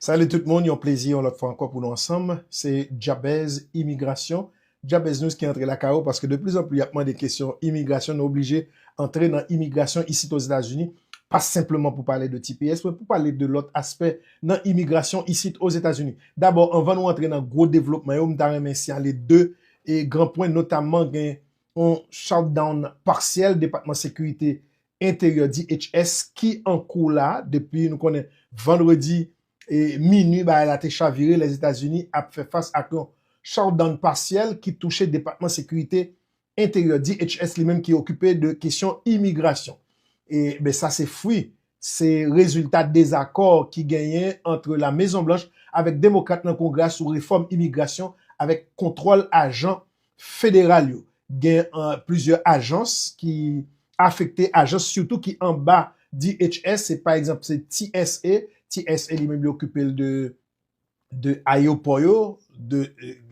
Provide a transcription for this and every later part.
Salut tout moun, yon plezi yon lòt fwa ankò pou nou ansanm, se Jabez Imigrasyon, Jabeznews ki antre lakay ou paske de plis an plis y ap mande kesyon imigrasyon nou oblije antre nan imigrasyon isit Ozetazini, pa senpleman pou pale de tps men pou pale de lòt aspè nan imigrasyon isit Ozetazini. Dabò anvan nou antre nan gwo devlopman yo m ta renmen siyale 2 gran pwen notamman gen yon shutdown partiel Depatman Sekirite enteryè DHS ki an kou la depi nou konnen vandredi minui bagay la te chavire Lèzetazini ap fè fas ak yon shutdown pasyèl ki touche Depatman Sekirite Enteryè DHS li menm ki okipe de kesyon imigrasyon e ben sa se fwi se rezilta dezakò ki genyen antre La Mezon Blanch avèk Demokrat nan Kongrè a sou refòm imigrasyon avèk kontwòl ajan federal yo gen plizyè ajans ki afekte, ajans sitou ki anba DHS, se pa egzanp se TSA, TSA li menm li okipe l de de ayewopò yo, de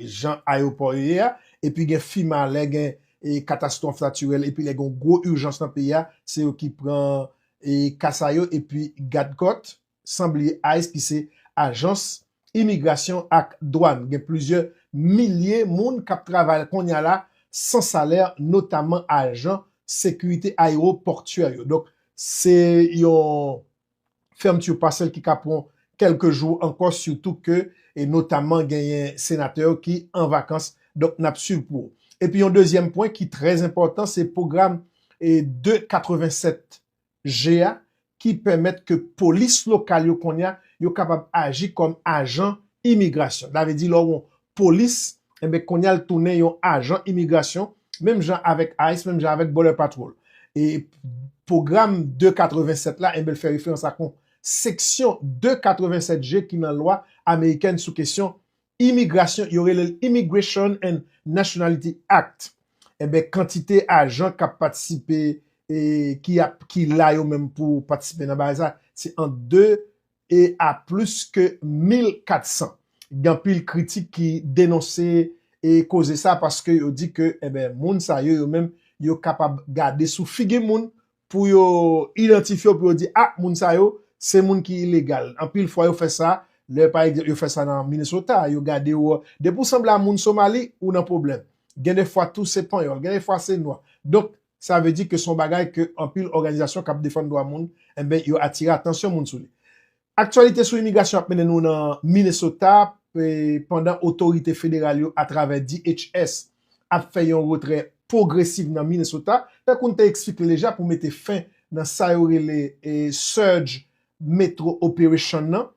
jan ayewopò yo ye a, epi gen FEMA lè gen katastwòf natirèl epi lè gen yon gwo ijans nan peyi a, se yo ki pran ka sa yo epi gadkòt. san bliye ice ki se ajans imigrasyon ak dwàn gen plizyè milye moun k ap travay kounye a la san salè notaman ajan sekirite ayewopòtyè yo donk se yon fermeture partielle ki ka pran kèlke jou ankò sitou ke e notaman genyen senatè yo ki an vakans donk n ap swiv pou ou epi yon dezyèm pwen ki trè enpòtan se pwogram e 2 87 je a ki pèmèt ke polis lokal yo kounye a, yo kapab aji kòm ajan imigrasyon. Sa vle di lè w yon polis, enben kounye a l tounen yon ajan imigrasyon, menm jan avèk ice, menm jan avèk Border Patrol. E pwogram 287 la, enben l fè referans ak yon seksyon 287 je ki nan lwa amerikèn sou kesyon Imigrasyon, yo rele l Immigration and Nationality Act, enben kantite ajan k ap patisipe e ki ap ki la yo menm pou patisipe nan bagay sa, se ant 2 e a plis ke 1400. Gen anpil kritik ki denonse e koze sa paske yo di ke enben moun sa yo yo menm yo kapab gade sou figi moun Pou yo idantifye w pou yo di ah moun sa yo se moun ki ilegal. Anpil fwa yo fè sa lè pa egzanp yo fè sa nan Minnesota yo gade w depi w sanble a moun Somali ou nan pwoblèm. Gen de fwa tou se panyòl gen de fwa se nwa. Donk sa vle di ke se yon bagay ke anpil òganizasyon k ap defann dwa moun enben yo atire atansyon moun sou li. Aktyalite sou imigrasyon ap mennen nou nan Minnesota pandan otorite federal yo atravè DHS ap fè yon retrè pwogresiv nan Minnesota, tankou n te eksplike deja pou mete fen nan sa yo rele Surge Metro Operation nan,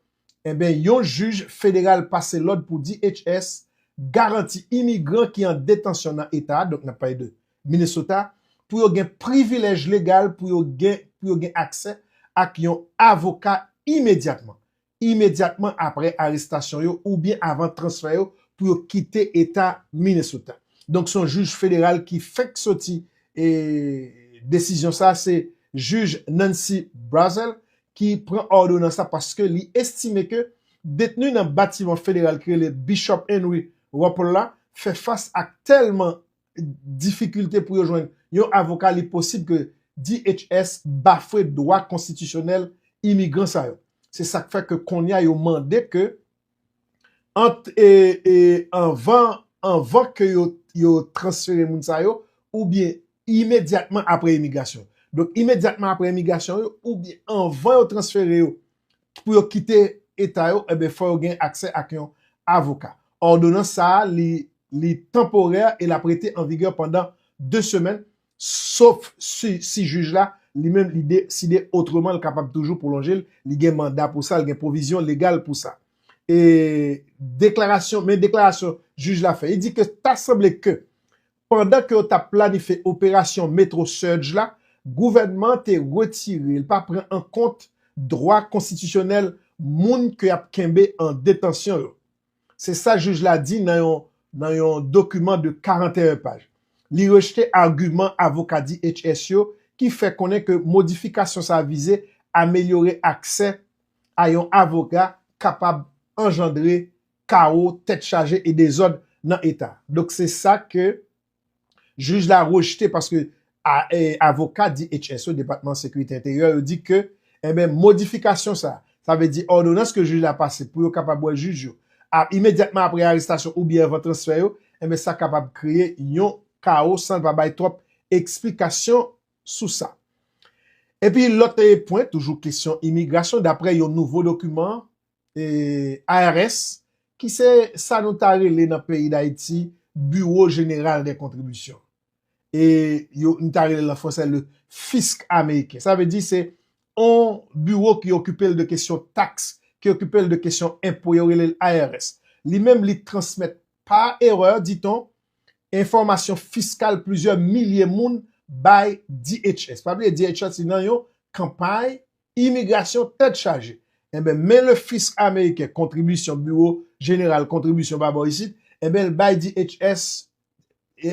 enben yon jij federal pase lòd pou DHS garanti imigran ki an detansyon nan eta a, donk n ap pale de Minnesota, pou yo gen privilèj legal pou yo gen pou yo gen aksè ak yon avoka imedyatman, imedyatman apre arestasyon yo oubyen avan transfè yo pou yo kite eta Minnesota. Donk se yon jij federal ki fenk soti e desizyon sa a, se jij Nancy Brazel ki pran òdonans la paske li estime ke detni nan batiman federal ki rele Bishop Henry Rupple la fè fas ak tèlman difikilte pou yo jwenn yon avoka li posib ke DHS bafwe dwa konstitisyonèl imigran sa yo. Se sak fè ke konnya yo mande ke ant anvan anvan ke yo transfere moun sa yo oubyen imedyatman apre imigrasyon. Donk imedyatman apre imigrasyon yo oubyen anvan yo transfere yo pou yo kite eta yo, enben fò yo gen aksè ak yon avoka. Òdonans sa a li li tanporè e l ap rete an vigè pandan 2 semèn, sof si si jij la li menm li de side otreman l kapab toujou pwolonje l, li gen manda pou sa, l gen pwovizyon legal pou sa. E deklarasyon men deklarasyon jij la fè, li di ke ta sanble ke Pandan ke yo tap planifye operasyon Metro Surge la, gouvènman an te retire, li pa pran an kont dwa konstitisyonèl moun ke yap kenbe an detansyon yo. Se sa jij la di nan yon nan yon dokiman de 41 paj. Li rejte agiman avoka DHS yo ki fè konnen ke modifikasyon sa vize amelyore aksè a yon avoka kapab anjandre kawo, tèt chaje e dezòd nan eta. Donk se sa ke jij la rejte paske avoka DHS yo, Depatman Sekirite Enteryè yo di ke enben modifikasyon sa, sa vle di òdonans ke jij la pase pou yo kapab wè jij yo imedyatman apre arestasyon oubyen anvan transfè yo, enben sa kapab kreye yon kawo san l pa bay twòp eksplikasyon sou sa. Epi lòt pwen toujou kesyon imigrasyon daprè yon nouvo dokiman IRS, ki se sa nou ta rele nan peyi Dayiti Bureau General des Contributions. E yo, nou ta rele l an franse le Fisc Américain. Sa vle di se yon biwo ki okipe l de kesyon taks, ki okipe l de kesyon enpo, yo rele l IRS. Li menm li transmèt pa erè, dit-on, enfòmasyon fiskal plizyè milye moun bay DHS. Pa bliye DHS li nan yon kanpay Imigrasyon tèt chaje. Enben, men le fisk ameriken kontribisyon biwo jeneral kontribisyon pa bò isit, enben l bay DHS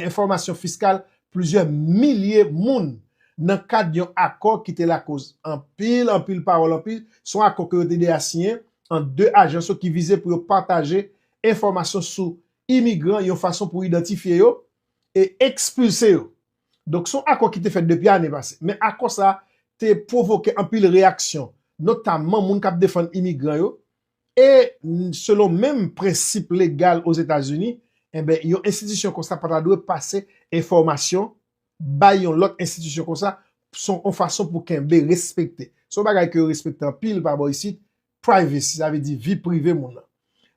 enfòmasyon fiskal plizyè milye moun nan kad yon akò ki te lakoz anpil, anpil pawòl, anpil, se yon akò ke yo te 2 a siyen ant 2 ajans yo ki vize pou yo pataje enfòmasyon sou imigran yon fason pou idantifye yo e ekspilse yo. Donk son akò ki te fèt depi ane pase. Men akò sa te pwovoke anpil reyaksyon, notamman moun kap defann imigran yo, e selon menm prensip legal Ozetazini, enben yon enstitisyon konsa pa ta dwe pase enfòmasyon bay yon lòt enstitisyon konsa, son yon fason pou kenbe, respekte. Son bagay ke yo respekte anpil pa bò isit, Privacy, sa vle di vi prive moun nan.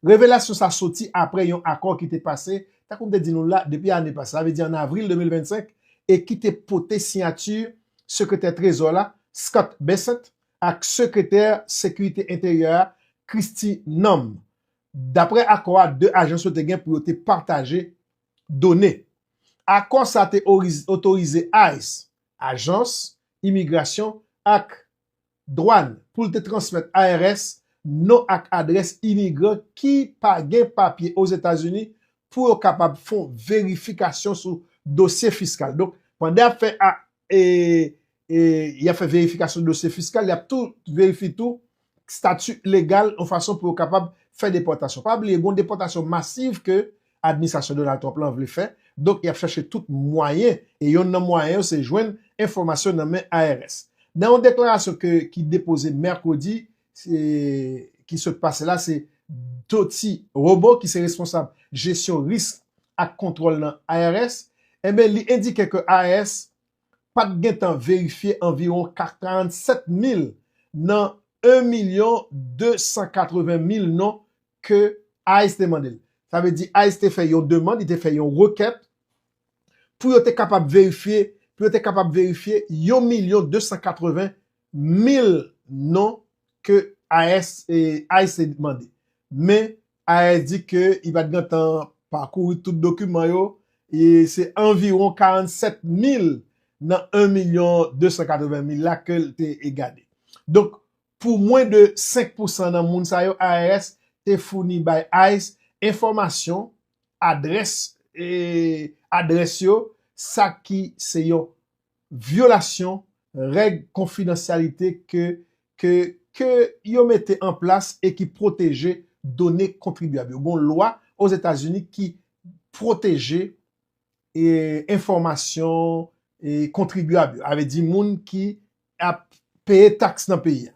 Revelasyon sa soti apre yon akò ki te pase, tankou m te di nou la, depi ane pase, sa vle di an avril 2025, e ki te pote siyati Sekretè Trezò la, Scott Bessent, ak Sekretè Sekirite Enteryè a, Kristi Noem. Dapre akò a, 2 ajans yo te gen pou yo te pataje done. Akò sa te otorize ice, Ajans Imigrasyon ak Dwàn pou l te transmèt IRS non ak adrès imigran ki pa gen papye Ozetazini pou yo kapab fon verifikasyon sou dosye fiskal. Donk, pandan y ap fè a e y ap fè verifikasyon dosye fiskal, y ap tou verifi tou stati legal yon fason pou yo kapab fè depòtasyon. Pa bliye gen yon depòtasyon masiv ke administrasyon Donald Trump lan vle fè, donk y ap chache tout mwayen, e yonn nan mwayen yo se jwenn enfòmasyon nan men IRS. Nan yon deklarasyon ke ki depoze mèkredi ki sot pase la se Dottie Robo ki se responsab jesyon risk ak kontwòl nan IRS, enben li endike ke IRS pa t gen tan verifye anviwon 47 mil nan 1 milyon 280 mil non ke ice te mande l. Sa vle di ice te fè yon demand, li te fè yon rekèt pou yo te kapab verifye, pou yo te kapab verifye yon milyon 280 mil non ke AS, ice te mande. Men AS di ke li pa t gen tan pakouri tout dokiman yo, e se anviwon 47 mil nan 1 milyon 280 mil la ke l te gade. Donk, Pou mwen de 5 pou san nan moun sa yo IRS te founi bay ice enfòmasyon adrès adrès yo sa ki se yon vyolasyon règ konfidansyalite ke ke ke yo mete an plas e ki pwoteje done kontribyab yo gon lwa Ozetazini ki pwoteje e enfòmasyon e kontribyab yo avè di moun ki ap peye taks nan peyi a.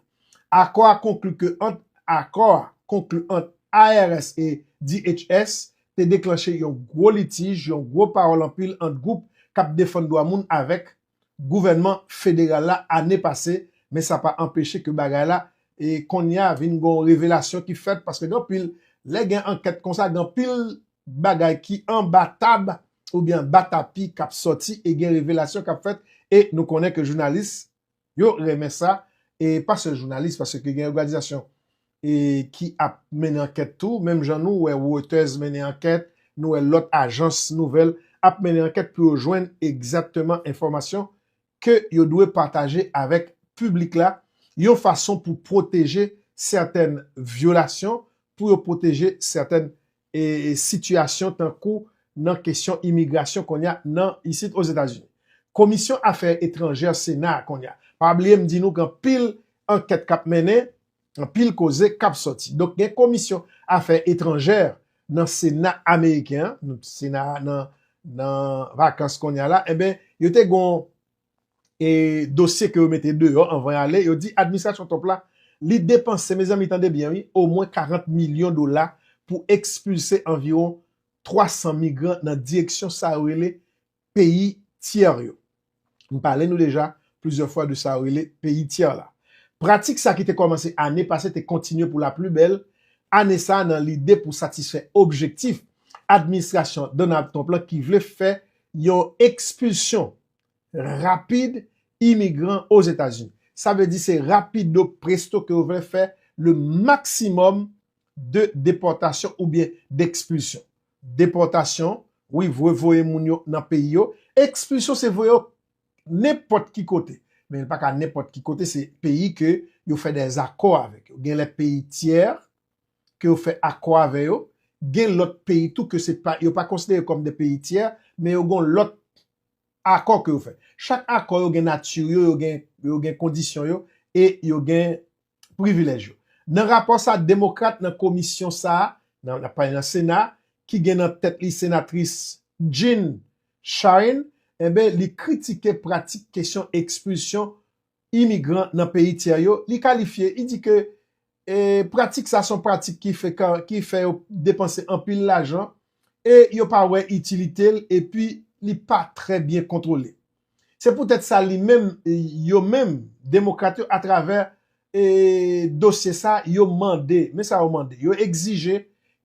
Akò a konkli ke ant Akò a konkli ant IRS e DHS te deklanche yon gwo litij, yon gwo pawòl anpil ant gwoup k ap defann dwa moun avèk gouvènman federal la ane pase, men sa pa anpeche ke bagay la e konnya vin gon revelasyon ki fèt paske gen anpil lè gen ankèt konsa gen anpil bagay ki anba tab oubyen anba tapi kap sòti e gen revelasyon kap fèt e nou konnen ke jounalis yo renmen sa e pa sèl jounalis paske gen òganizasyon e ki ap mennen ankèt tou menm jan nou wè Reuters mennen ankèt nou wè lòt ajans nouvèl ap mennen ankèt pou yo jwenn egzatteman enfòmasyon ke yo dwe pataje avèk piblik la yon fason pou pwoteje sètèn vyolasyon pou yo pwoteje sètèn sitiyasyon tankou nan kesyon imigrasyon konnya nan isit Ozetazini. Komisyon Afè Etranjè Sena a konnya. Pa bliye m di nou gen anpil ankèt k ap mennen, anpil koze k ap sòti. Donk gen Komisyon Afè Etranjè nan Sena ameriken an, Sena a nan vakans konnya la, enben yo te gen yon e dosye ke yo mete deyò anvan y ale, yo di administrasyon Trump la li depanse, mezanmi tande byen wi, omwen 40 milyon dola pou ekspilse anviwon 300 migran nan direksyon sa yo rele peyi tyè yo. M pale nou deja plizyè fwa de sa yo rele peyi tyè la. Pratik sa ki te kòmanse ane pase te kontinye pou laplibèl ane sa nan lide pou satisfè objektif administrasyon Donald Trump la ki vle fè yon ekspilsyon rapid imigran Ozetazini. Sa vle di se rapido presto ke yo vle fè le maksimòm de depòtasyon oubyen dekspilsyon. Depòtasyon, wi vwe voye moun yo nan peyi yo. Ekspilsyon se voye yo nenpòt ki kote. Men li pa ka nenpòt ki kote, se peyi ke yo fè dè akò avèk yo. Gen lè peyi tyè ke yo fè akò avè yo. Gen lòt peyi tou ke se pa, yo pa konsidere kòm de peyi tyè, men yo gon lòt Akò ke yo fè. Chak akò yo gen nati yo, yo gen kondisyon yo, e yo gen privilèj yo. Nan rapò sa, Demokrat nan komisyon sa, nan ap pale nan Sena, ki gen nan tèt li Senatris Jean Charne, enben li kritike pratik kesyon ekspilsyon imigran nan peyi tyè yo, li kalifye, li di ke pratik sa son pratik ki frekan, ki fè yo depanse anpil lajan e yo pa wè itilite l epi li pa trè byen kontwole. Se poutèt sa li menm, yo menm, demokrat yo atravè dosye sa yo mande, men sa yo mande, yo egzije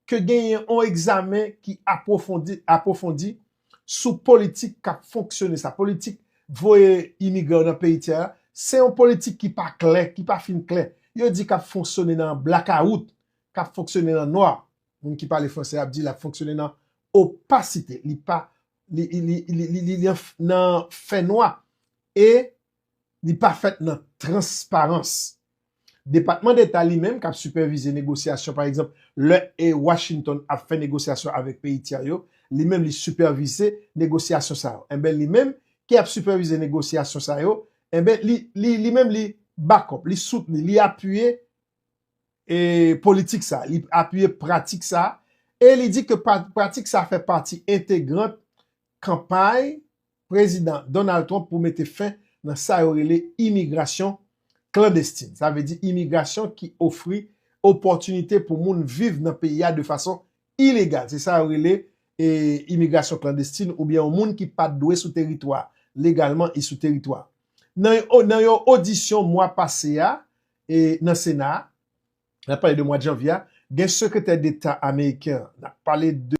ke genyen yon egzamen ki apwofondi, apwofondi, sou politik kap fonksyone sa, politik voye imigran yo nan peyi tyè a, se yon politik ki pa klè, ki pa fin klè. Yo di kap fonksyone nan blakawout, kap fonksyone nan nwa. Moun ki pale franse ap di lap fonksyone nan opasite, li pa, li, li, li, li, li nan fè nwa e li pa fèt nan transparans. Depatman Deta li menm k ap sipèvize negosyasyon, pa egzanp, lè Washington ap fè negosyasyon avèk peyi tyè yo, li menm li sipèvize negosyasyon sa yo. Enben, li menm ki ap sipèvize negosyasyon sa yo, enben, li, li menm li back up, li soutni, li apiye politik sa a, li apiye pratik sa a e li di ke pratik sa a fè pati entegrant kanpay Prezidan Donald Trump pou mete fen nan sa yo rele imigrasyon klandestin. Sa vle di imigrasyon ki ofri opòtinite pou moun viv nan peyi a de fason ilegal. Se sa yo rele imigrasyon klandestin oubyen yon moun ki pat dwe sou teritwa legalman e sou teritwa. Nan yon odisyon mwa pase a nan Sena a, nap pale de mwad Janvye a, gen Sekretè Deta Ameriken an, nap pale de.